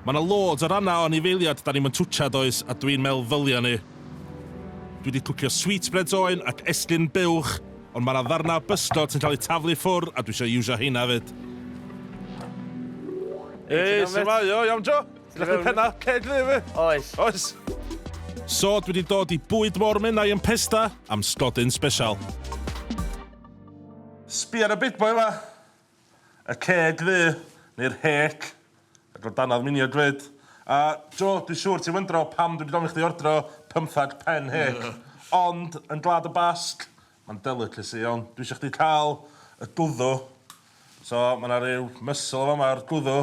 Mae 'na loads o rannau o anifeiliad 'da ni'm yn twtsia does a dwi'n meddwl ddylia ni. Dwi 'di twtshio sweetbreads oen ac esgyn buwch ond mae 'na ddarnau o bysgod sy'n cael eu taflu ffwr a dwi isio iwsio heina 'fyd. Hei, su'mai? O, iawn Joe? Ti'n gallu neud pennau ceg dda i fi? Oes. Oes. So, dwi 'di dod i bwyd môr Menai yn Pesda am sgodyn sbesial. Sbia ar y big boy 'ma. Y ceg ddu, neu'r hêc, ac o danodd miniog 'fyd. A, Jo, dwi siŵr ti'n wyndro pam dwi 'di gofyn i chdi ordro pymthag pen hêc. Ond, yn Gwlad y Basg, mae'n delicacy iawn. Dwi isio chdi cael y gwddw. So, mae 'na ryw muscle yn fama, yr gwddw.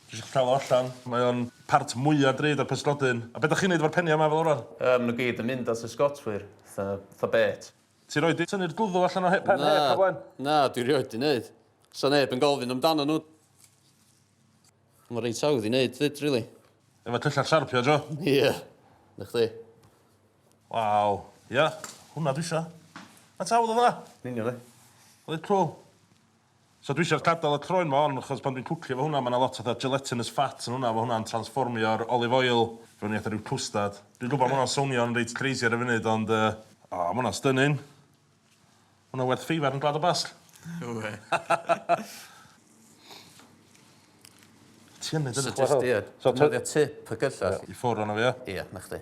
Dwi isio chdi cael o allan. Mae o'n part mwya drud o'r pysgodyn. A be' 'dach chi'n neud efo'r peniau 'ma fel arfer? Yym, ma' nhw gyd yn mynd at y sgotwyr. Fatha, fatha bêt. Ti rioed 'di tynnu'r gwddw allan o he- pen Na, heb o'r blaen? na, dwi rioed 'di neud. Sa neb yn gofyn amdanyn nhw. Mae reit hawdd i neud 'fyd, rili. Efo tyllau siarpio, jo? Ie. Na chdi. Waw. Ia, hwnna dwi isio. Faint hawdd oedd hwnna? Yn union, ie. Reit cwl. So dwi isio gadal y croen ma on achos pan dwi'n cwcio efo hwnna ma na lot fatha gelatinous fat yn hwnna fo hwnna'n transfformio'r olive oil fewn i fatha ryw cwstad. Dwi'n gwbo ma hwnna'n sownio'n reit crazy ar y funud ond yy O ma hwnna'n stunning. Ma hwnna werth feifar yn Gwlad y Basg. No wê. Ti yn neud hynna? So jyst ia defnyddio tip y cyllell. I ffwr ono fo ia? Ia 'na chdi.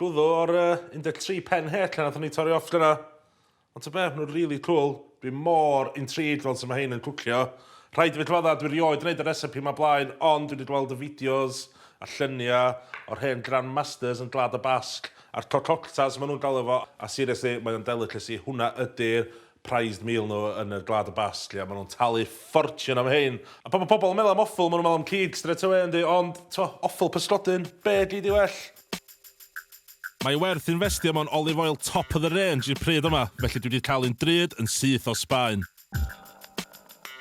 Glwyddo ar y 13 pen het lle nathon ni torri off dyna. Ond ta beth, nhw'n really cool. Dwi mor intrigued fel sut mae hein yn cwcio. Rhaid i fi cyfadda, dwi rioed yn neud y recipe ma blaen, ond dwi di gweld y fideos a llunia o'r hen grand masters yn Gwlad y Basg a'r cococtas ma nhw'n galw fo, a seriously mae o'n delicacy, hwnna ydi'r prized meal nhw yn y Gwlad y Basg lle maen nhw'n talu ffortiwn am hein. A pan mae pobl yn meddwl am offal, maen nhw'n meddwl am cig straight away yndi? Ond, tibod, offal pysgodyn, be gei di well? Mae werth infestio mewn olive oil top of the range i'r pryd yma, felly dwi wedi cael un drud yn syth o Sbaen.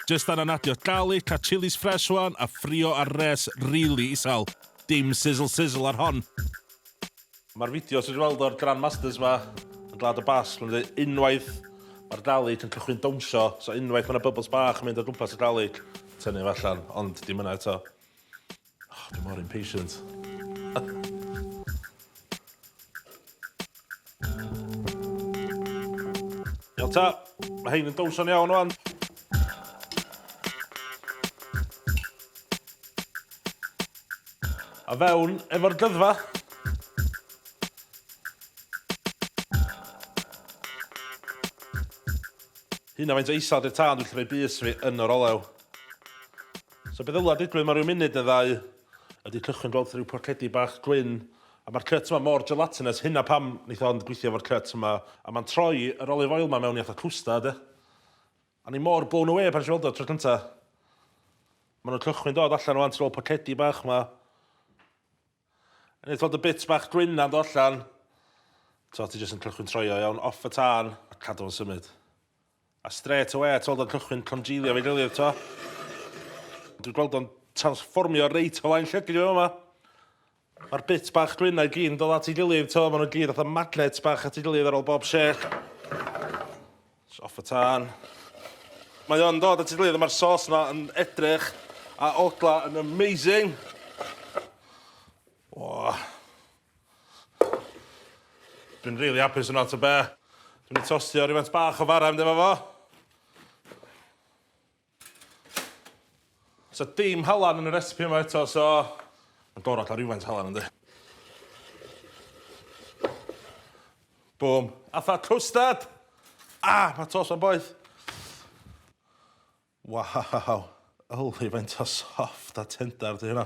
Jyst angen adio garlic a chillies fresh ŵan a ffrio ar res rili isel. Dim sizzle sizzle ar hon. Mae'r fideo sydd wedi weld o'r Grandmasters ma yn Gwlad y Basg, mae'n dweud unwaith mae'r Dalek yn cychwyn dawnsio, so unwaith mae yna bubbles bach yn mynd o gwmpas y Dalek, tynnu fo allan, ond dim yna eto. Oh, dwi mor impatient. Iawn ta, mae hein yn dawnsio yn iawn o'n. A fewn efo'r dyddfa! Hynna faint o isal di'r tân dwi'n gallu rhoi bys fi yn yr olew. So be ddyla digwydd mewn rhyw munud neu ddau ydi cychwyn gweld rhyw porcedi bach gwyn a ma'r cut yma mor gelatinous hynna pam neith o ond gweithio efo'r cut yma a ma'n troi yr olive oil ma mewn i fatha cwstard ia. O'n i mor blown away pan nes i weld o tro cynta. Ma' 'na cychwyn dod allan ŵan, ti nôl pocedi bach 'ma. Neith fod y bit bach gwyn na'n do allan. T'o' ti jyst yn cychwyn troi o iawn, off y tân, a cadw fo'n symud. A strêt awe ti weld o'n cychwyn congealio efo'i gilydd t'o'. Dwi'n gweld o'n transfformio reit o flaen llygid fi fama. Ma'r bits bach gwyn-na i gyd yn dod at ei gilydd, t'o', ma' nw gyd fatha magnets bach at ei gilydd ar ôl bob shake. Js off y tân. Mae o'n dod at ei gilydd a ma'r sauce 'na yn edrych a odla yn amazing. O! Dwi'n rili apus yno, ta be'? Dwi myn' i tostio rywfaint bach o fara i fynd efo fo. Sa dim halan yn y recipe yma eto so ma'n gorod ca'l rywfaint o halan yndi? Bŵm. Atha cwstard! Ah! Ma' tost 'ma'n boeth. Waw! Yli faint o soft a tender 'di hynna.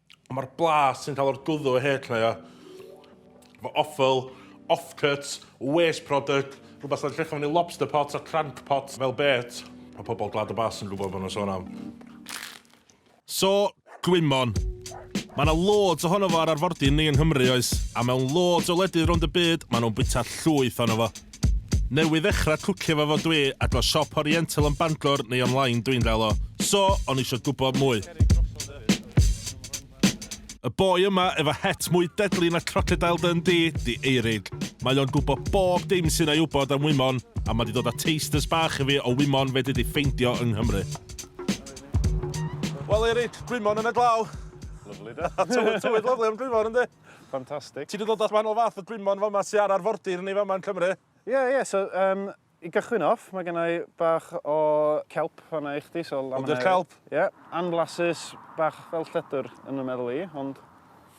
Ond mae'r blas sy'n cael o'r gwddw o hêt lleia, mae offal, offcuts, waste product, rhywbeth sy'n llechaf fyny lobster pots a crank pots fel bêt. Mae pobl Gwlad y Basg yn gwybod beth mae'n sôn am. So, gwymon. Mae yna loads ohono fo ar arfordir ni yng Nghymru, oes? A mewn loads o wledydd rownd y byd, maen nhw'n bwyta llwyth ohono fo. Newydd ddechra cwcio fo fo dwi a go siop oriental yn Bangor neu online dwi'n gael o. So, o'n i isio gwybod mwy. Y boi yma efo het mwy deadly na crocodile Dundee di Eirig. Mae o'n gwybod bob dim sy'n ei wybod am wymon a mae di dod a tasters bach i fi o wymon fedri di ffeindio yng Nghymru. Wel Eirig, gwymon yn y glaw. Lyfli de? Tywydd lyfli am gwymon yndi? Fantastic. Ti 'di dod at wahanol fath o gwymon fama sy ar arfordir ni fama yn Cymru. Ie ie so yym i gychwyn off mae genna i bach o kelp fanna i chdi so laminaria. Hwn 'di'r kelp? Ie. Anblasus bach fel lledr yn fy meddwl i ond...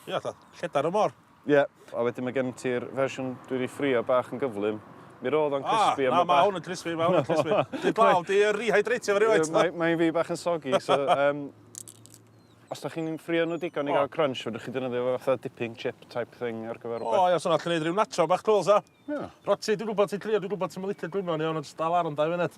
Ie fatha lledar y môr. Ie. A wedyn mae gen ti'r fersiwn dwi 'di ffrio bach yn gyflym. Mi ro'dd o'n crispy a ma' bach... O na ma' hwn yn crispy ma' hwn yn crispy. Dwi'n gweld 'di yy rehydratio fo rywfaint. Mae mae un fi bach yn soggy so yym... Os da chi'n ffrio nhw digon i gael crunch, fedrwch chi defnyddio fo fatha dipping chip type thing ar gyfer rhywbeth. O, ia, so na, ti'n neud rhyw nacho bach cwl, sa? Ia. Yeah. Roti, dwi'n gwybod ti'n crio, dwi'n gwybod ti'n mylicio gwyno ni, ond jyst dal ar yn dau funud.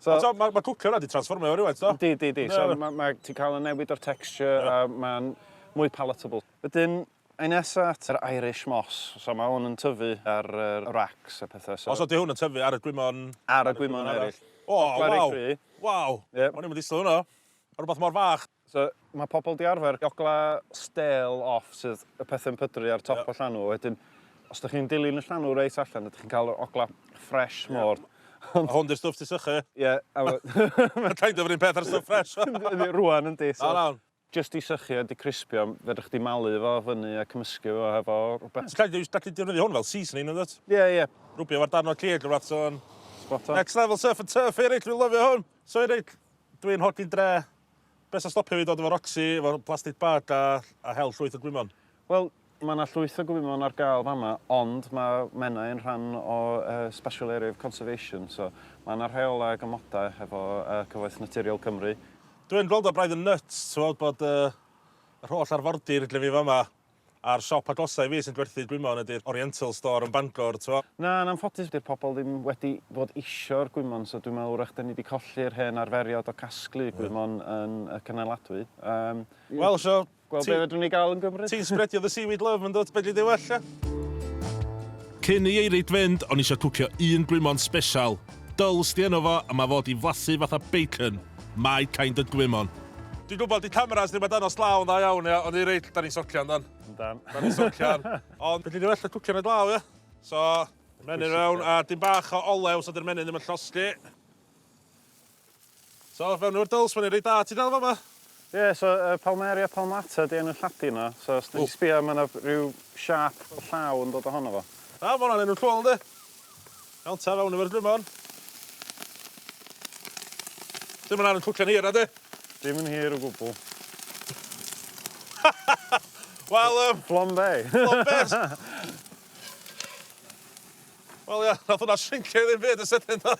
so, so mae ma cwcio yna di transformio rhywbeth, do? Di, di, di. So, mae ma, ti'n cael y newid o'r texture, yeah. a mae'n mwy palatable. Wedyn, Ei nesa at yr Irish Moss. So mae hwn yn tyfu ar yr racks a pethau. So... Os oeddi hwn yn tyfu ar y gwymon... Ar y gwymon eraill. O, waw! Waw! Yep. O'n i'n mynd i ddislo hwnna. Rhywbeth mor fach. So, mae pobl 'di arfer jogla stêl off sydd y pethe'n pydru ar top y llanw, wedyn os dych chi'n dilyn y llanw reit allan ydych chi'n cael yr ogla ffresh mor... A hwn 'di'r stwff ti'n sychu? Ie. Mae'n kind of yr un peth a'r stwff ffresh. Yndi, rŵan yndi. O na. Jyst 'di sychu a 'di crispio, fedrwch chdi malu fo fyny a cymysgu fo hefo rhywbeth. Ti'n kind of gallu defnyddio hwn fel seasoning yndwt? Ie, ie. Rwbio fo ar darn o cig neu rywbeth, so... Spot on. Next level surf and turf here, dwi'n lyfio hwn! So i roi Dwi'n hoffi'n dre. Be' sy'n stopio fi dod efo Roxy, efo plastic bag a a hel llwyth o gwymon? Wel, ma' 'na llwyth o gwymon ar ga'l fama, ond ma' Menai yn rhan o yy Special Area of Conservation, so ma' 'na rheolau ag amodau hefo yy Cyfoeth Naturiol Cymru. Dwi yn gweld o braidd yn nyts t'wod bod yy yr holl arfordir gyda fi fama. A'r siop agosaf i fi sy'n gwerthu gwymon ydi'r Oriental Store yn Bangor, t'mo'. Na, yn anffodus 'di'r pobl ddim wedi bod isio'r gwymon, so dwi'n meddwl 'w'rach 'dan ni 'di colli'r hen arferiad o gasglu gwymon yn y cynnaladwy. Yym. Wel, so, ti... Gweld be' fedrwn ni gael yn Gymru. Ti'n sbredio dy seaweed love, yndwt? Fedri di well, ia? Cyn i Eirid fynd, o'n i isio cwcio un gwymon sbesial. Dull sti yno fo a ma fod i flasu fatha bacon, my kind of gwymon. Dwi'n gwybod 'di cameras ddim ar dangos glaw yn dda iawn ia, ond i rei lle 'dan ni'n socian yndan? Yndan. 'Dan ni'n socian. Ond fedri di well na cwcio yn y glaw ia? So, menyn fewn a dim bach o olew so 'di'r menyn ddim yn llosgi. So fewn efo'r dwls, mae'n un reit dda. Ti'n dal fama? Ie, so yy Palmaria palmata 'di enw Lladin o, so os 'dych chi'n sbïo ma' 'na ryw siâp llaw yn dod ohono fo. Da, ma' hwnna'n enw cŵl yndi? Iawn ta, fewn efo'r drymor. Ti'm yn aru cwcio'n hir nadi? Dim yn hir o gwbwl. Wel yym... Flambe! Flambe! Wel ia, nath hwnna shrincio i ddim byd yn sydyn do?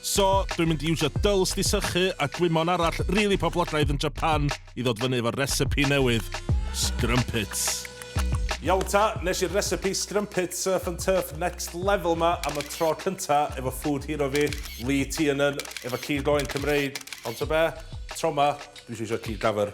So, dwi'n mynd i iwsio dwls di sychu a gwymon arall rili poblogaidd yn Japan i ddod fyny efo'r recipe newydd, scrumpets. Iawn ta, nes i'r recipe scrumpets surf and turf next level ma am y tro cynta efo food hero fi, Lee Tiernan, efo cig oen Cymreig, ond ta be, tro ma, dwi isio isio cig dafyr.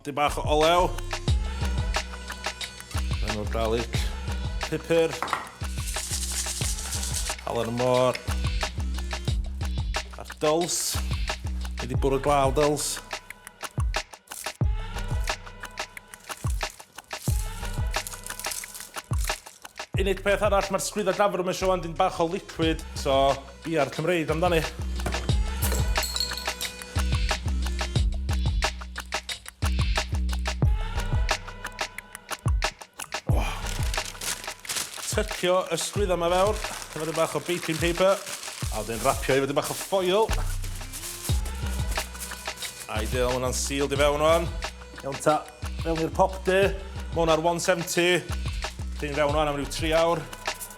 Dyn bach o olew. Rhan o'r garlic. Pupur. Halen y môr. A'r dyls. Ni di bwrw glaw dyls. Unig peth arall, mae'r sgwydda gafr yma eisiau wan dyn bach o liquid, so Biau'r Cymreig amdani. Oh. Tycio y sgwydda yma fewr, efo dyn bach o baking paper, a wedyn rapio efo dyn bach o ffoil. A'i dyn o'n hwnna'n sealed i fewn o'n. Iawn ta, mewn i'r pop de, mewn ar 170, dyn fewn o'n am ryw 3 awr.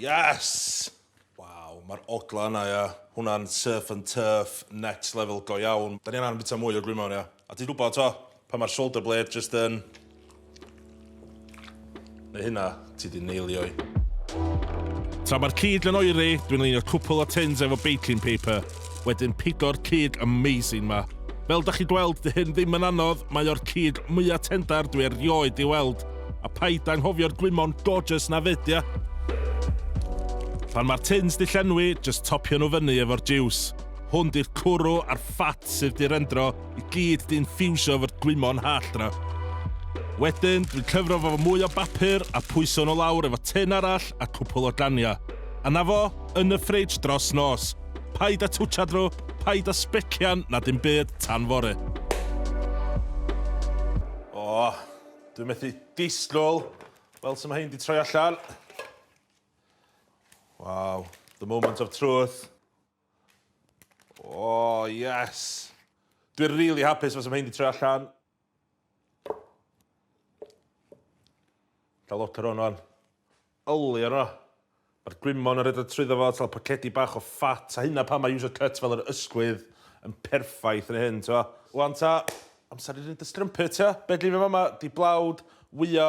Yes! Waw, mae'r ogla yna, ia. Hwnna'n surf and turf, next level go iawn. Da ni angen bita mwy o gwymon, ia. A ti'n gwybod, to, pan mae'r shoulder blade just yn... Neu hynna, ti di neilio'i. Tra mae'r cig yn oeri, dwi'n leinio cwpl o tins efo baking paper. Wedyn pigo'r cig amazing ma. Fel dach chi'n gweld, dy hyn ddim yn anodd, mae o'r cig mwya tendar dwi erioed di weld. A paid anghofio'r gwymon gorgeous na fyd ia? Pan mae'r tins di llenwi, jyst topio nhw fyny efo'r jiws. Hwn di'r cwrw a'r ffat sydd di rendro i gyd di infiwsio efo'r gwymon hallt na. Wedyn, dwi'n cyfro fo fo mwy o bapur a pwyso nhw lawr efo tin arall a cwpwl o ganiau. A na fo, yn y ffridge dros nos. Paid a twtshad nhw, paid a sbecian na dim byd tan fory. O, dwi'n methu disgwyl. Wel, sy'n mae hyn di troi allan. Wow, the moment of truth. O, yes. Dwi'n really hapus fos am hyn di troi allan. Cael lot o'r hwn o'n yli o'n o. Mae'r gwymon yn rhedeg trwyddo fo, tal pocedi bach o ffat, a hynna pan mae user cut fel yr ysgwydd yn perffaith yn hyn, t'o. Wan ta, amser i roi dy strumpet, t'o. Be' dwi efo fama, di blawd, wyo,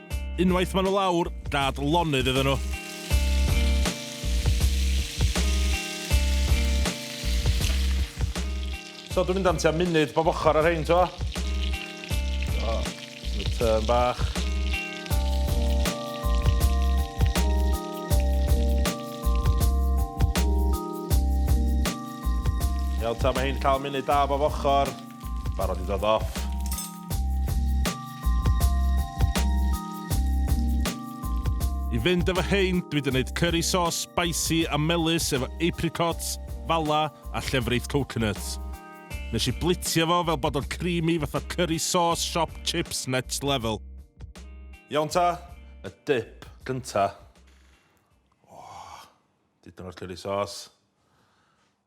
Unwaith maen nhw lawr, gad lonydd iddyn nhw. So dwi'n mynd am tua munud bob ochr ar hyn, to. So, y tyn bach. Iawn ta, mae hyn cael munud da bob ochr. Barod i ddod off. I fynd efo hein, dwi wedi gwneud curry sauce spicy a melus efo apricots, fala a llefrith coconut. Nes i blitio fo fel bod o'n creamy fatha curry sauce shop chips next level. Iawn ta, y dip gynta. Oh, dipyn o'r curry sauce.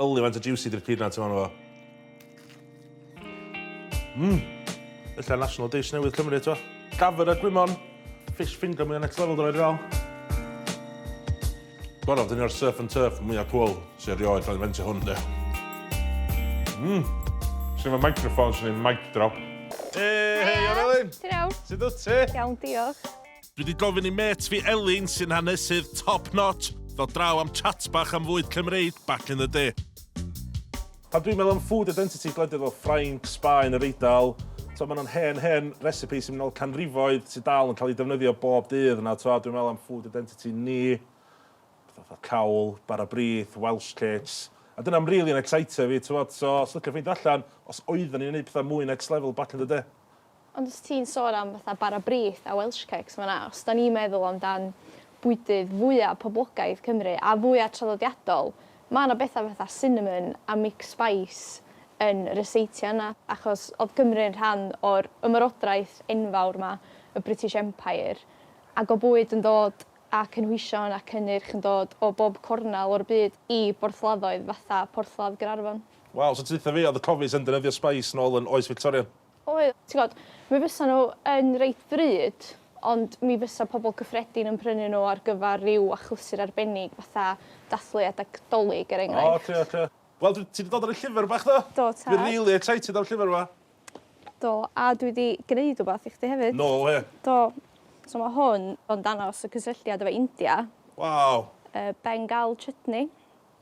Yli faint o juicy di'r peanuts yma ynddo fo. Mmm! Ella national dish newydd Cymru eto. Dafydd a gwymon. Fish finger mwya next level dylai di fel. Gorau, dyn ni'r surf and turf mwya cwl sy'n erioed cael ei fentio hwn de. Mmm! Swn i'n microphone, swn i'n mic drop. Hei, hei, Orelin! Ti'n iawn? Sut wyt ti? Iawn, diolch. Dwi 'di gofyn i mêt fi Elin, sy'n hanesydd top notch, ddod draw am chat bach am fwyd Cymreig back in the day. Pan dwi'n meddwl am food identity gwledydd fel Ffrainc, Sbaen, Yr Eidal, t'mo' ma' 'na hen hen recipes sy'n mynd nôl canrifoedd sy dal yn cael eu defnyddio bob dydd yna t'mo' dwi'n meddwl am food identity ni, petha fatha cawl, bara brith, Welsh cakes, a dyna'n rili yn ecsitio fi t'mod so os liciwch ffeindio allan os oedden ni'n neud petha mwy next level back in the day. Ond os ti'n sôn am fatha bara brith a Welsh cakes ma' 'na, os 'dan ni'n meddwl am dan bwydydd fwya poblogaidd Cymru a fwya traddodiadol ma' 'na betha fatha cinnamon a mixed spice yn ryseitio yna achos odd Cymru'n rhan o'r ymerodraeth enfawr 'ma y British Empire ag o' bwyd yn dod a cynhwysion a cynnyrch yn dod o bob cornal o'r byd i borthladdoedd fatha Porthladd Gaernarfon. Waw so deutha fi o'dd y cofis yn defnyddio spice nôl yn oes Fictoria? Oedd, ti'n gwybod, mi fysa nhw yn reit ddrud, ond mi fysa pobl cyffredin yn prynu nhw ar gyfer rhyw achlysur arbennig, fatha dathlu adeg 'Dolig, er enghraifft. O, oce, oce. Wel, dwi, ti 'di dod ar y llyfr bach, do? Do, tad. Dwi rili excited am llyfr 'ma. Do, a dwi 'di gneud wbath i chdi hefyd. No wê! Do. So ma' hwn o'n dangos y cysylltiad efo India. Waw! Y Bengal Chutney.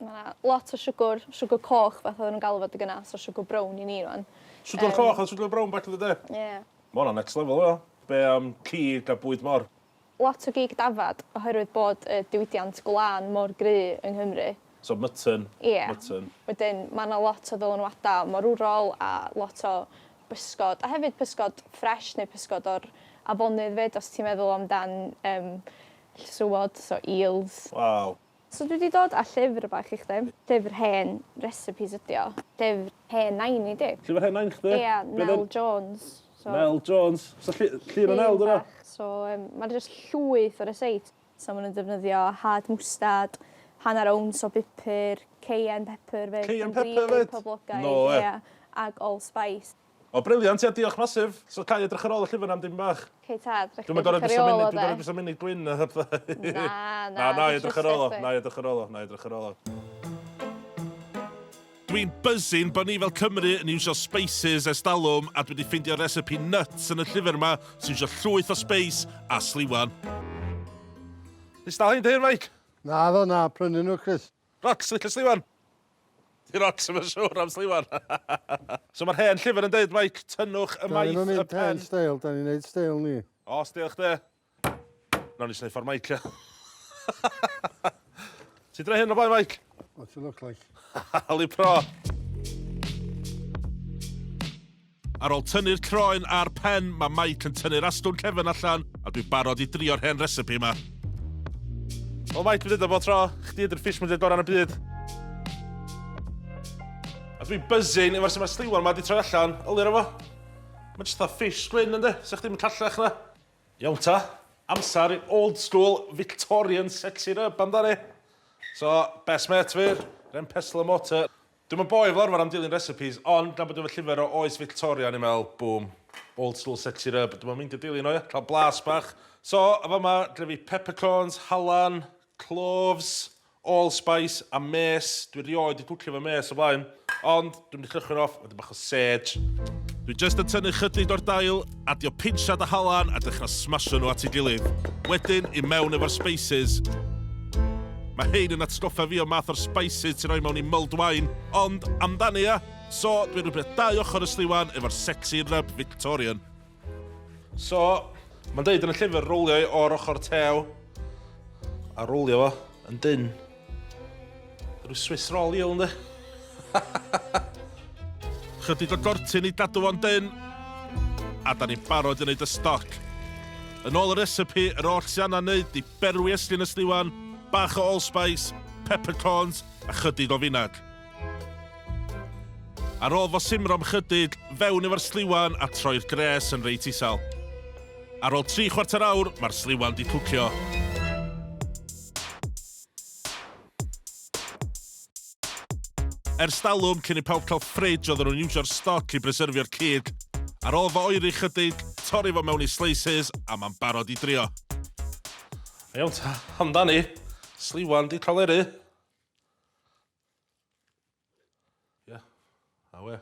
Ma' 'na lot o siwgwr, siwgwr coch fath odden nw'n galw fo adeg yna, so siwgwr brown i ni rŵan. Siwgwr Yym. coch a siwgwr brown back in the day? Ie. Ma' wnna'n next level o dda. Be' am cig a bwyd mor? Lot o gig dafad oherwydd bod y diwydiant gwlân mor gry' yng Nghymru. So mutton. Ie. Mutton. Wedyn ma' 'na lot o ddylanwada' morwrol a lot o bysgod a hefyd pysgod ffresh neu pysgod o'r afonydd 'fyd os ti'n meddwl amdan yym llysywod so eels. Waw. So dwi 'di dod â llyfr bach i chdi. Llyfr hen recipes ydi o. Llyfr hen nain i 'di. Llyfr hen nain chdi? Ia, Nel Jones. So... Nel Jones. So llu- llun o Nel 'di wnna? So yym ma' jyst llwyth o ryseits. So ma' nw'n defnyddio hard mwstad, hanner owns o bupur, cayenne pepper 'fyd... Cayenne pepper 'fyd? ...poblogaidd. No wê. Ia, ag allspice. O brilliant ia diolch massive. So gai edrych ar ôl y llyfr am dipyn bach? Ok tad, fedrwch chi edrych ar ei ôl o de. Dwi'm yn gorod edrych ar ei ôl o de. Dwi'm yn gorod edrych ar ei ôl o de. Dwi'n gorod edrych ar munud gwyn a pethau. Na na. Na nai edrych ar ôl o, nai edrych ar ôl o, nai edrych ar ôl o. Dwi'n buzzing bo ni fel Cymru yn iwsio spices ers dalwm a dwi di ffeindio recipe nuts yn y llyfr ma sy'n iwsio llwyth o spice a sliwan. Nes dal hein dy hun Mike? Naddo na, prynu nhw Chris. Rocs, licio sliwan! Di Rocs ddim yn siwr am sliwan. So mae'r hen llyfr yn deud Mike, tynnwch y maith y pen. Da ni'n mynd hen steil, da ni'n neud steil ni. O, steil chdi. Nawn ni sneud ffordd Mike. Ti'n dweud hyn o blaen, Mike? What you look like. Hali pro. Ar ôl tynnu'r croen a'r pen, mae Mike yn tynnu'r astwn cefn allan, a dwi'n barod i drio'r hen recipe yma. O Mike, dwi'n dweud o bod tro, chdi ydy'r fish mwyaf gorau yn y byd. A dwi'n buzzing efo'r sy'n mae'r sliwan yma wedi troi allan, ylir efo. Mae'n jyst fatha fish gwyn ynddi, sa'ch dim yn callach na. Iawn ta, amser i'r old school Victorian sexy rub amdani. So, best mate fi, ren pestle and mortar. Dwi'm yn boi fel arfer am dilyn recipes, ond gan bod efo llyfr o oes Fictoria o'n i'n meddwl, boom, old school set it up, dwi'm yn meindio dilyn o ia? Cael blas bach. So, yn fama, gyda fi peppercorns, halan, cloves, allspice a mace. Dwi rioed 'di cwcio efo mace o blaen, ond dwi'm 'di cychwyn off, wedyn bach o Serge, Dwi jyst yn tynnu chydig o'r dail, adio pinsiad a halan a dechra smasho nhw at ei gilydd. Wedyn, i mewn efo'r spices. Mae hein yn atgoffa fi o'r math o'r spices ti'n rhoi mewn i mulled wine, ond amdani ia? So, dwi'n rhybio dau ochr y sliwan efo'r sexy rub Victorian. So, mae'n deud yn y llyfr rowlio i o'r ochr tew a rowlio fo yn dyn. Rwy'n Swiss roll i o'n Chydig o gortyn i gadw fo'n dyn a da ni'n barod i wneud y stoc. Yn ôl y recipe, yr oll sy'n anna wneud di berwi eslin ysliwan, bach o allspice, peppercorns a chydig o finag. Ar ôl fo simro am chydig, fewn efo'r sliwan a troi'r gres yn reit isel. Ar ôl tri chwarter awr, mae'r sliwan di cwcio. Ers dalwm cyn i pawb cael fridge oedden nhw'n iwsio'r stoc i bryserfio'r cig. Ar ôl fo oeri chydig, torri fo mewn i slices a mae'n barod i drio. Iawn ta, amdani. Sliwan di cael eri. Yeah. Awe.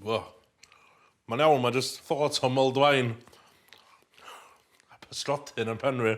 Fo. Mae'n iawn, mae just thought o Moldwain. A pysgodyn yn penwi.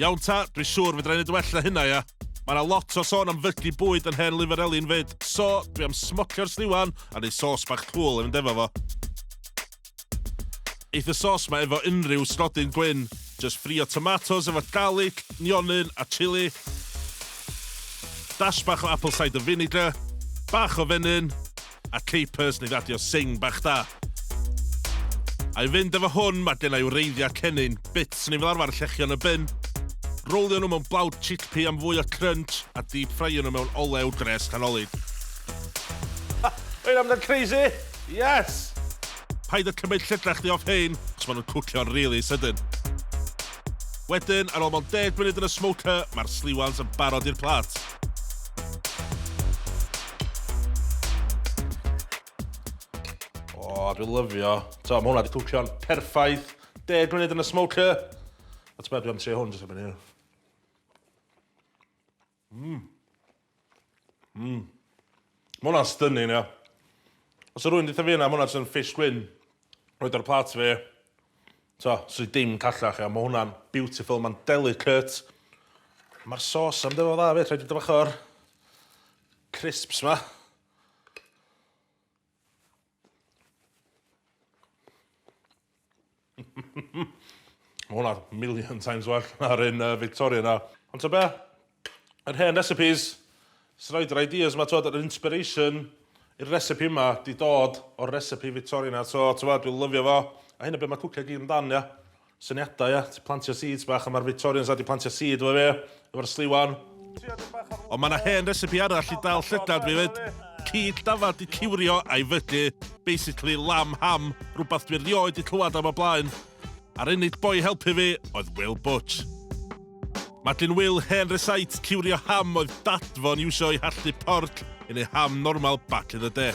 Iawn ta, dwi siŵr fedra i neud well na hynna ia. Mae yna lot o sôn am fygu bwyd yn hen lyfr Elin 'fyd, so dwi am smocio'r sliwan a neud sos bach cŵl i fynd efo fo. Eith y sos ma efo unrhyw stodyn gwyn, jyst ffrio tomatos efo garlic, nionyn a chili, dash bach o apple cider vinegar, bach o fenyn, a Capers neu radio sing bach da. I fynd efo hwn, mae gen i wreiddiau cennin, bits neu fel arfer llechion y bin, rowlio nhw mewn blawd chickpea am fwy o crunch a deep ffraio nhw mewn olew gres canolid. Mae'n amdano crazy! Yes! Paid â cymryd llygrach chdi off hein, cos maen nhw'n cwcio'n really sydyn. Wedyn, ar ôl mewn deg munud yn y smoker, mae'r sliwans yn barod i'r plat. O, dwi'n lyfio. So, mae hwnna wedi cwcio'n perffaith. Deg munud yn y smoker. A ti'n meddwl, dwi'n trio hwn, dwi'n mynd Mmm. Mmm. Ma' hwnna'n stunning ia. Os 'sa rywun deutha fi hynna ma' hwnna jyst yn fish gwyn roid ar plat fi. T'o' swn i dim callach ia ma' hwnna'n beautiful ma'n delicate. Ma'r sauce am dŷ fo'n dda 'fyd rhaid fi dŷ bach o'r crisps 'ma. Ma' hwnna million times well na'r un yy Victoria 'na. Ond t'o' be'? Yr hen recipes sy roid yr ideas 'ma t'wod yr inspiration i'r recipe 'ma 'di dod o'r recipe Victoria 'na so t'mod dwi lyfio fo a hynna be' ma' cwcio i gyd amdan ia? Syniadau at plantio seeds bach a ma'r Victorians a di plantio seed efo fe efo'r sliwan. Ond mae na hen recipe arall i dal llygad fi fyd. Cig dafad di ciwrio a'i fygu. Basically lamb ham, rwbath dwi rioed di clywad am o blaen. A'r unig boi i helpu fi oedd Will Butch. Madeline Will, hen recite, ciwrio ham oedd dad fo'n iwsio i hallu porc yn ei ham normal back in the day.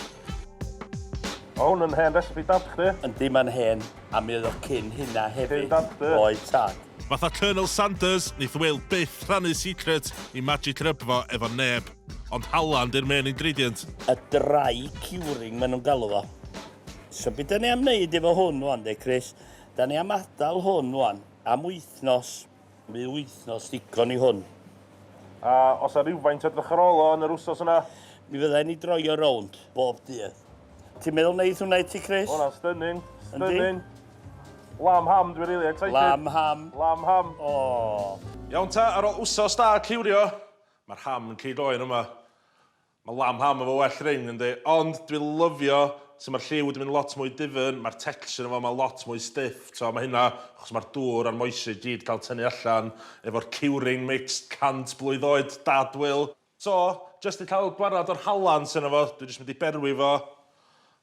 O, hwn yn hen recipe dad chdi. Yndi, mae'n hen, a mi oedd o cyn hynna hefyd. Cyn dad chdi? Oedd tad. Fatha Colonel Sanders, neith Will byth rhannu secret i magic rub fo efo neb. Ond halan di'r main ingredient. A dry curing maen nhw'n galw fo. So beth da ni am wneud efo hwn wan de, Chris? Da ni am adael hwn wan. Am wythnos, bu wythnos ddigon i hwn. A osa rywfaint o drychyrolo yn yr wsos yna? Mi fydda'n i droio rownd bob dydd. Ti'n meddwl neith hwnna i ti Chris? Ma' hwnna'n stunning, stunning. Lamb ham, dwi rili excited. Lamb ham. Lamb ham. Aww. Iawn ta, ar ol wsos da cliwrio, ma'r ham yn cig oen yma. Mae lamb ham efo well ring yndi? Ond dwi lyfio su ma'r lliw wedi mynd lot mwy difyrn, ma'r texture yno fo ma lot mwy stiff t'o ma hynna achos ma'r dŵr a'r moisture i gyd ca'l tynnu allan efo'r curing mix cant blwydd oed dad Wil. So, jyst i ca'l gwarad o'r hallan sy yno fo, dwi jyst mynd i berwi fo.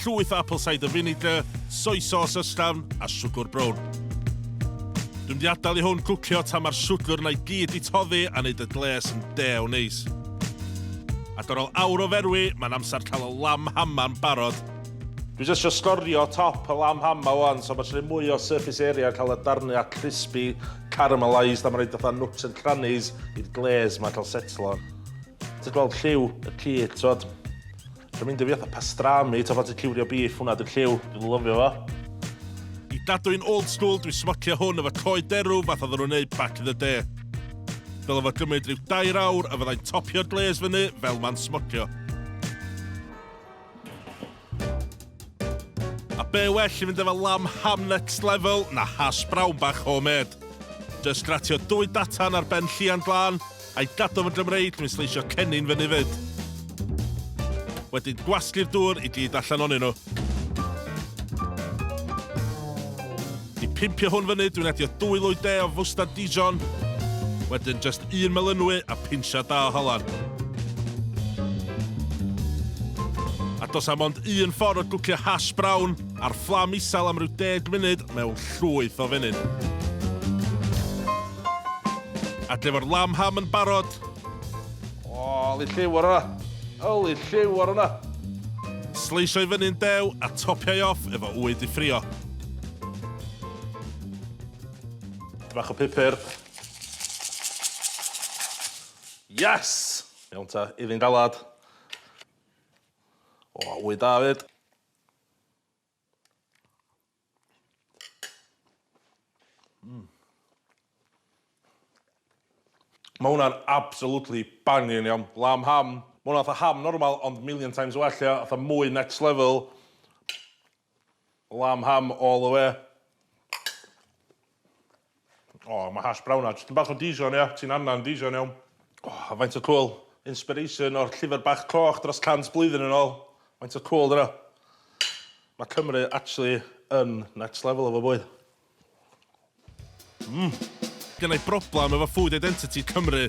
llwyth apple cider vinegar, soy sauce ysgafn a siwgr brown. Dwi'n mynd i adael i hwn gwcio tan mae'r siwgr yna i gyd i toddi a wneud y gles yn dew neis. Ac ar ôl awr o ferwi, mae'n amser cael y lamb hama'n barod. Dwi jyst isio sgorio top y lamb hama wan, so mae isio rhoi mwy o surface area a cael y darniau crispy caramelised a mae'n rhaid fatha nooks and crannies i'r glaze ma cael setlo. Ti'n gweld lliw y cig, t'wod? Dwi'n mynd i fi fatha pastrami, ta fatha ciwrio beef, hwnna dwi'n lliw, dwi'n lyfio fo. I dadw i'n old school, dwi'n smocio hwn efo coed derw fath oedden nhw'n neud back in the day. Dyle fo gymryd rhyw dair awr a fyddai'n topio'r glaze fyny fel ma'n smocio. A be well i fynd efo lamb ham next level na hash brown bach homemade. Just gratio dwy datan ar ben llian glân, I gadw fy Gymreig, dwi'n sleisio cennin fyny 'fyd. Wedyn gwasgu'r dŵr i gyd allan onyn nhw. I pimpio hwn fyny, dwi'n adio dwy lwy de o fwstad Dijon. Wedyn just un melynwy a pinsia da o halan. A dos am ond un ffordd o gwcio hash brown ar fflam isel am ryw deg munud mewn llwyth o fenyn. Adle efo'r lamb ham yn barod. O, oli lliw ar yna. Oli lliw ar yna. Sleisio i fyny'n dew a topiau off efo wy di ffrio. Bach o pupur. Yes! Iawn ta, iddi'n galad. O, wy da fyd. Mm. Mae hwnna'n absolutely bangin iawn. Lamb ham. Mae hwnna fatha ham normal ond million times well ia, fatha mwy next level. Lamb ham all the way. O, mae hash brown na, jyst yn bach o Dijon, ia? Ti'n annan Dijon iawn. O, a faint o cŵl. Inspiration o'r llyfr bach cloch dros 100 blwyddyn yn ôl. Faint o cŵl dyna. Mae Cymru actually yn next level efo bwyd. Mmm. Gynna i broblem efo food identity Cymru.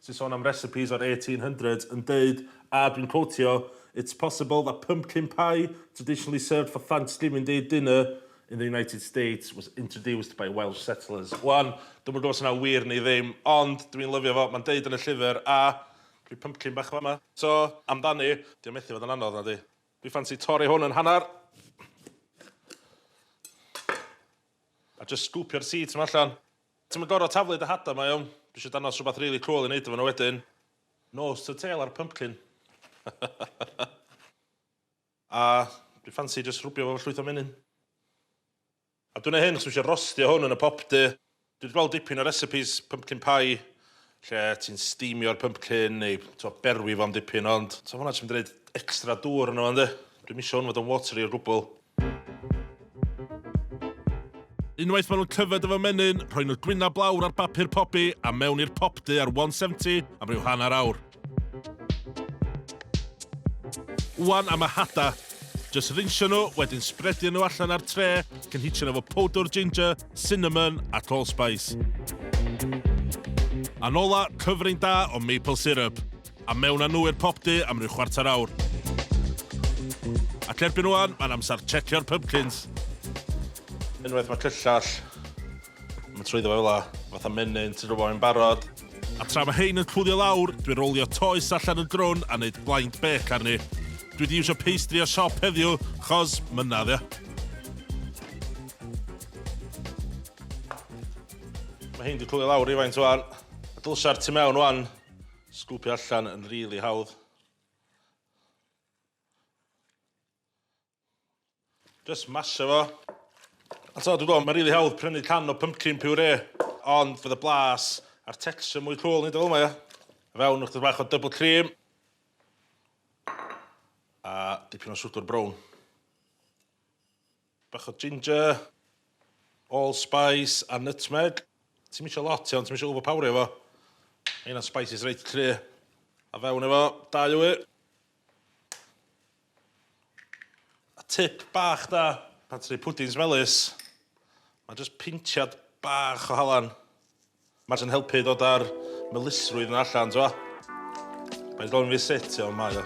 sy'n sôn am recipes o'r eighteen hundreds yn deud, a dwi'n cotio, It's possible that pumpkin pie, traditionally served for Thanksgiving Day dinner in the United States, was introduced by Welsh settlers. Wan, dwi'm yn gwybod os yna'n wir neu ddim, ond dwi'n lyfio fo, mae'n deud yn y llyfr, a rhyw pumpkin bach fama. So, amdani, dio methu fod yn anodd, nadi? Dwi ffansi torri hwn yn hanner, a jyst sgwpio'r seeds 'ma allan. Ti'm yn gorfod taflu dy hadau, mae iawn. Dwi isio dangos rhywbeth rili cŵl i wneud efo nhw wedyn. Nose to tail ar pumpkin. A dwi ffansi jyst rwbio fo efo llwyth o menyn. A dwi'n neud hyn achos dwi isio rostio hwn yn y popdy. Dwi wedi gweld dipyn o recipes pumpkin pie lle ti'n steamio'r pumpkin neu t'mo' berwi fo am dipyn ond t'mo' hwnna jyst mynd i roid extra dŵr yno fo yndi? Dwi'm isio hwn fod yn watery o gwbwl. Unwaith maen nhw'n tyfed efo menyn, rhoi nhw gwyn a blawr ar bapur pobi a mewn i'r popdy ar 170 am ryw hanner awr. Wan am y hada. Just rinsio nhw, wedyn spredio nhw allan ar tre, cynhitio nhw efo powdwr ginger, cinnamon a allspice. A'n ola, cyfrin da o maple syrup. A mewn â nhw i'r popty am ryw chwarter awr. Ac erbyn ŵan, mae'n amser tshecio'r pympkins. Unwaith mae cyllell yn mynd trwyddo fo fel 'na, fatha menyn, ti'n gwybod, mae'n barod. A tra mae hein yn cwlio lawr, dwi'n rowlio toes allan yn drwn a neud blind bake arni. Dwi 'di iwsio pastry o siop heddiw, 'chos, mynna, ddio. Mae hein 'di cwlio lawr rywfaint ŵan. Dylsa'r tu mewn ŵan Sgwpio allan yn rili hawdd. Just masio fo. A t'o' dwi gwel' ma'n rili hawdd prynu can o pumpkin puree ond fydd y blas a'r texture mwy cŵl neud o fel 'ma ia? I fewn ychydig bach o double cream. A dipyn o siwgr brown. Bach o ginger, allspice a nutmeg. Ti'm isio lot iawn, ti'm isio overpowerio fo. Mae hynna'n spices reit cry'. A fewn efo dau wy. A tip bach da pan ti'n neud pwdins melys, ma' jyst pintiad bach o halan Mae jyst yn helpu i ddod â'r melysrwydd 'na allan, t'mo'? Mae'n gofyn fi sut, ond mae o.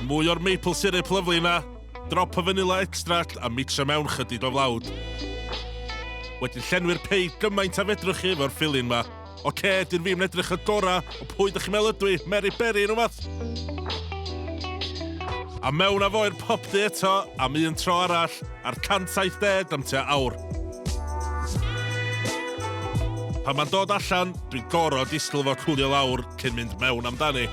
Mwy o'r maple syrup lyfli 'na. Drop o fanilla extract a micsio mewn chydig o flawd. Wedyn llenwi'r pei gymaint a fedrwch chi efo'r filling 'ma. Ocê, dyn fi'm yn edrych y gora, ond pwy dych chi'n meddwl ydw i, Mary Berry neu wbath? A mewn â fo i'r popty eto, am un tro arall. ar 170 am tua awr. Pan mae'n dod allan, dwi'n gorfod disgwyl fo cwlio lawr cyn mynd mewn amdani.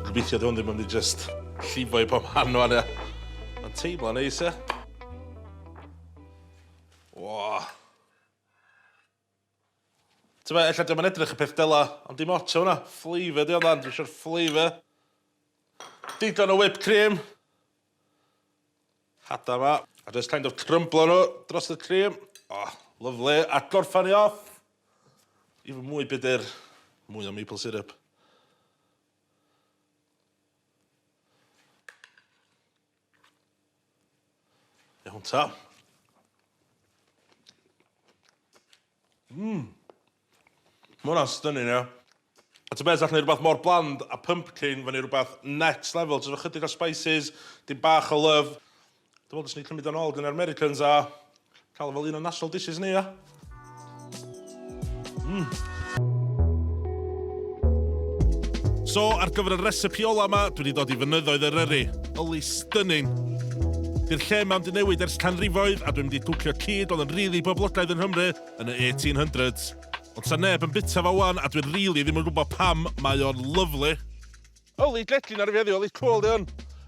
Gobeithio dwi hwn ddim yn mynd i just llifo i pob man o'n ia. Mae'n teimlo'n neis ia. Wah. T'mo' ella 'di o'm yn edrych y peth dela, ond dim ots am wnna, flavour 'di o ddan, dwi isio'r flavour. Digon o whipped cream. Hada 'ma. A jyst kind of crymblo nhw dros y cream. O, lyfli. A gorffan ni off efo mwy byd i'r... mwy o maple syrup. Iawn ta. Mmm. Mae hwnna'n stunning, ia. A ta beth, allwn ni rhywbeth mor bland a pumpkin fyny rhywbeth next level, jyst efo chydig o spices, dim bach o love. Dwi'n meddwl dylswn i cymryd o'n ôl gyn yr Americans a Cael fel un o'n national dishes ni, ia? Mmm. So, ar gyfer y recipe ola yma, dwi wedi dod i fynyddoedd yr yrru. Yli stunning. Dy'r lle mae'n di newid ers canrifoedd a dwi'n mynd i dwcio cyd oedd yn rili really boblogaidd yn Nghymru yn y 1800s. Ond sa neb yn bita fo wan a dwi'n rili really ddim yn gwybod pam mae o'n lyflu. Yli gledlin ar y feddi, yli cwl di hwn.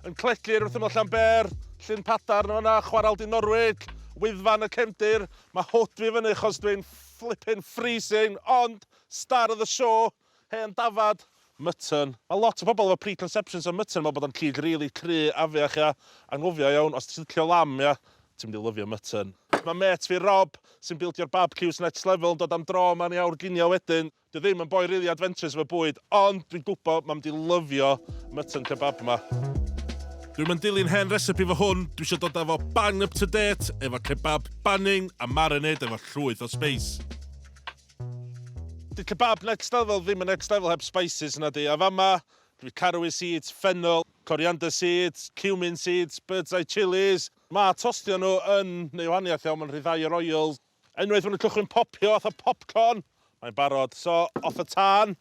Yn cledlu ar wrthym o Llanber, Llyn Padar na fanna, chwaral di Norwig, Wyddfan y Cefndir. Mae hwt fi fyny chos dwi'n flipping freezing, ond star of the show, hen dafad, Mutton. Mae lot o bobl efo preconceptions am mutton, meddwl bod o'n cig rili cry, afiach, ia. Anghofio iawn, os ti'n licio lamb, ia, ti'n mynd i lyfio mutton. Mae mêt fi Rob, sy'n bildio Barbcues Next Level, yn dod am dro yma yn ei awr ginio wedyn. Dwi ddim yn boi rili adventurous efo bwyd, ond dwi'n gwybod mam di lyfio mutton kebab ma. Dwi'm yn dilyn hen recipe fo hwn, dwi isio dod a fo bang up to date efo kebab banging a marinade efo llwyth o space. Di kebab next level ddim yn next level heb spices nadi, a fama dwi caraway seeds, fennel, coriander seeds, cumin seeds, bird's eye chillies, ma tostio nhw yn neu wahaniaeth iawn, ma'n rhyddhau yr oils. Unwaith ma' nhw'n cychwyn popio fatha popcorn, mae'n barod. So, off y tân.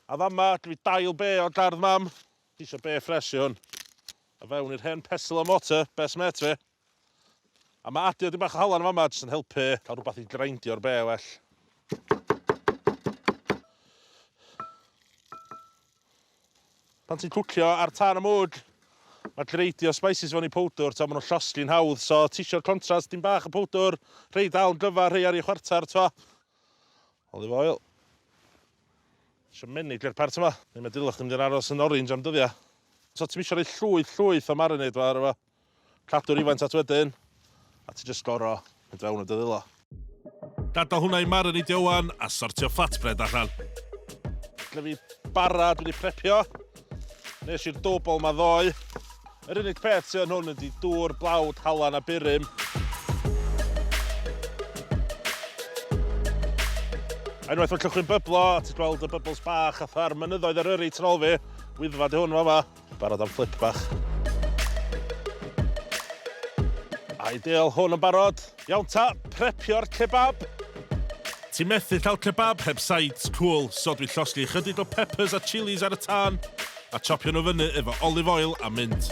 A fama, dw i dail be o gardd mam. Ti isio be ffres i hwn. A fewn i'r hen pestle and mortar, best mate fi. A ma' adio dipyn bach o halan yn fama jyst yn helpu cael rhywbeth i greindio'r be well. Pan ti'n cwcio ar tân y mwd, mae greidio spices fewn i powdwr, ti'n maen nhw'n llosgi'n hawdd, so ti eisiau'r contrast, dim bach y powdwr, rhai dal yn glyfar, rhai ar ei chwarter, ti'n Olive oil. Eisiau menig i'r part yma, neu mae dilwch yn mynd i'r aros yn orange am dyddiau. So ti'n eisiau rhoi llwyth, llwyth o marinade fo ar efo. Cadw rywfaint at wedyn, a ti jyst goro mynd fewn a dy ddwylo. Gadael hwnna i marineidio di wan a sortio flatbread allan. Lle fi bara, dwi di prepio. Nes i'r dwbl ma ddoe. Yr unig peth sydd yn hwn ydi dŵr, blawd, halan a burum. Unwaith mae llychwi'n byblo, a ti'n gweld y bybls bach fatha'r mynyddoedd Eryri tu ôl fi, Wyddfa di hwn fama, Barod am fflip bach. Ideal, hwn yn barod. Iawn ta, prepio'r kebab. Ti methu cael kebab heb sides, cool, so dwi llosgi chydig o peppers a chilies ar y tân, a chopio nhw fyny efo olive oil a mint.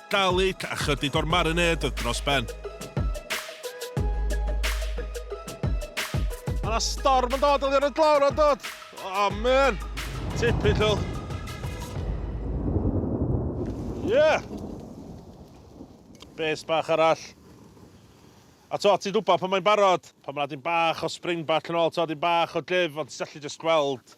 Garlic a chydig o'r marinade dros ben. Mae yna storm yn dod oddi ar y glawr yn dod! O, man! Typical. Yeah! Base bach arall. A to, ti'n gwybod pan mae'n barod, pan mae'n dim bach o spring back yn ôl, to, dim bach o glif, ond ti'n allu just gweld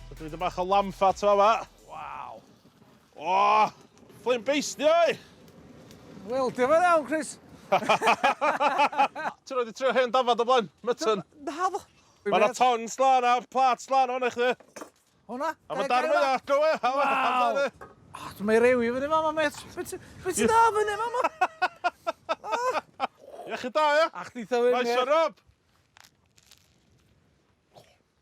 So dwi 'di bach o lamb fat fama. Waw. O! Fflim beisdi oi! Wel, diolch yn iawn, Chris. Ti roed i trio hen dafad o blaen? Mutton? Naddo. Mae yna ton slan a plat slan o'n eich di. Hwna? A mae darn fwy ac o e. Waw. Ah, dwi'n ei rewi fyny fama, met. Fe ti da fyny fama? Iechyd da, ia? Ach, di tha fyny. Nice one, Rob.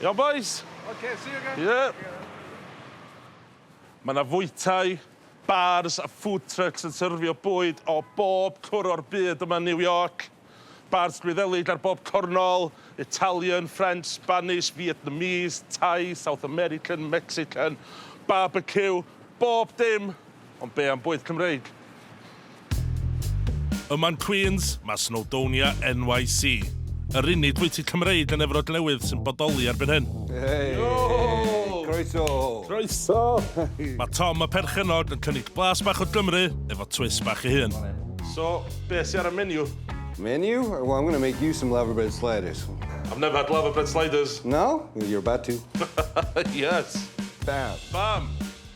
Iawn bois? Oce, see you again. Ie. Mae 'na fwytai, bars a food trucks yn syrfio bwyd o bob cwr o'r byd yma yn New York. Bars Gwyddelig ar bob cornol, Italian, French, Spanish, Vietnamese, Thai, South American, Mexican, barbecue, bob dim! Ond be am bwyd Cymreig? Yma yn Queens, mae Snowdonia NYC, yr unig fwyty Cymreig yn Efrog Newydd sy'n bodoli erbyn hyn. Hei! Croeso! Croeso! Mae Tom y perchennog yn cynnig blas bach o Gymru efo twist bach ei hun. So, be sy ar y menu? Menu? Well, I'm going to make you some laverbread sliders. I've never had laverbread sliders. No? Well, you're about to. Yes! Bam! Bam!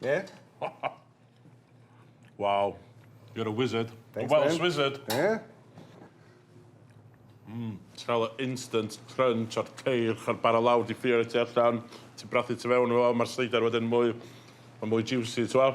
Yeah? wow. You're a wizard. Thanks, a Welsh man. wizard. Yeah? Mm, ti'n cael instant crunch o'r ceir, chael bara lawr di ffio ti allan, ti'n brathu ti fewn o, mae'r seidr wedyn mwy, mae mwy juicy, ti'n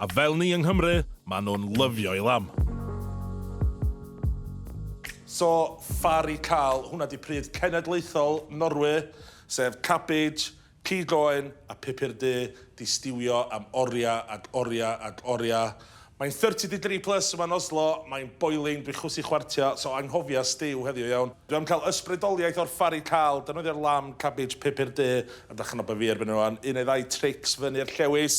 A fel ni yng Nghymru, maen nhw'n lyfio'i lamb. So far i cael hwnna di pryd cenedlaethol Norwy, sef cabbage, cig oen a pupur du di stiwio am oria ag oria ag oria. Mae'n thirty degree plus yma yn Oslo, mae'n boiling, dwi chwysu chwartio, so anghofia stiw heddiw iawn. Dwi am cael ysbrydoliaeth o'r far i cael, defnyddio'r lamb, cabbage, pupur du, a dychmyga bo fi erbyn rwan, un neu ddau trics fyny'r llewys.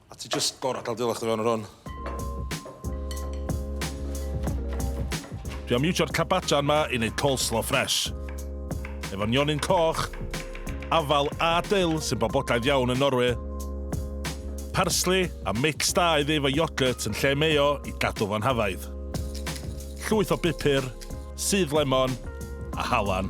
A ti just gorau cael dilach dy fewn ar hwn. Dwi am iwsio'r cabajan ma i wneud coleslaw ffres. Efo nionyn coch, afal a dyl sy'n boblogaidd iawn yn Norwy. Parsli a mix da i ddeifo iogurt yn lle mayo i gadw fo'n hafaidd. Llwyth o bupur, sudd lemon a halan.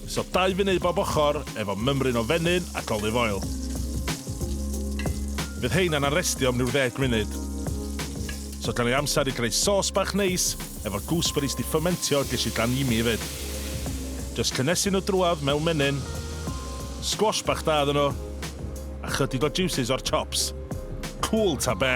So dau funud bob ochr efo mymryn o fenyn ac olive oil. Fydd heina'n arestio am ryw ddeg munud. So gan i amser i greu sos bach neis efo gooseberries di ffymentio gesh i dan ymi efyd. Jyst cynnesu nhw drwadd mewn menyn. Squash bach da iddyn nhw. A chydig o juices o'r chops. Cŵl ta be?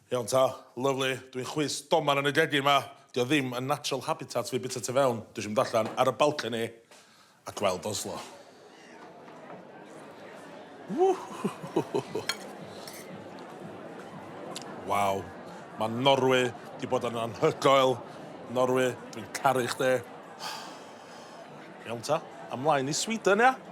Iawn ta, lyfli, dwi'n chwys doman yn y gegin ma, dio ddim yn natural habitat fi bita tu fewn, dwi isio mynd allan ar y balcony a gweld Oslo. Waw, ma Norwy di bod yn anhygoel, Norwy, dwi'n caru chdi. Iawn ta, ymlaen i Sweden ia?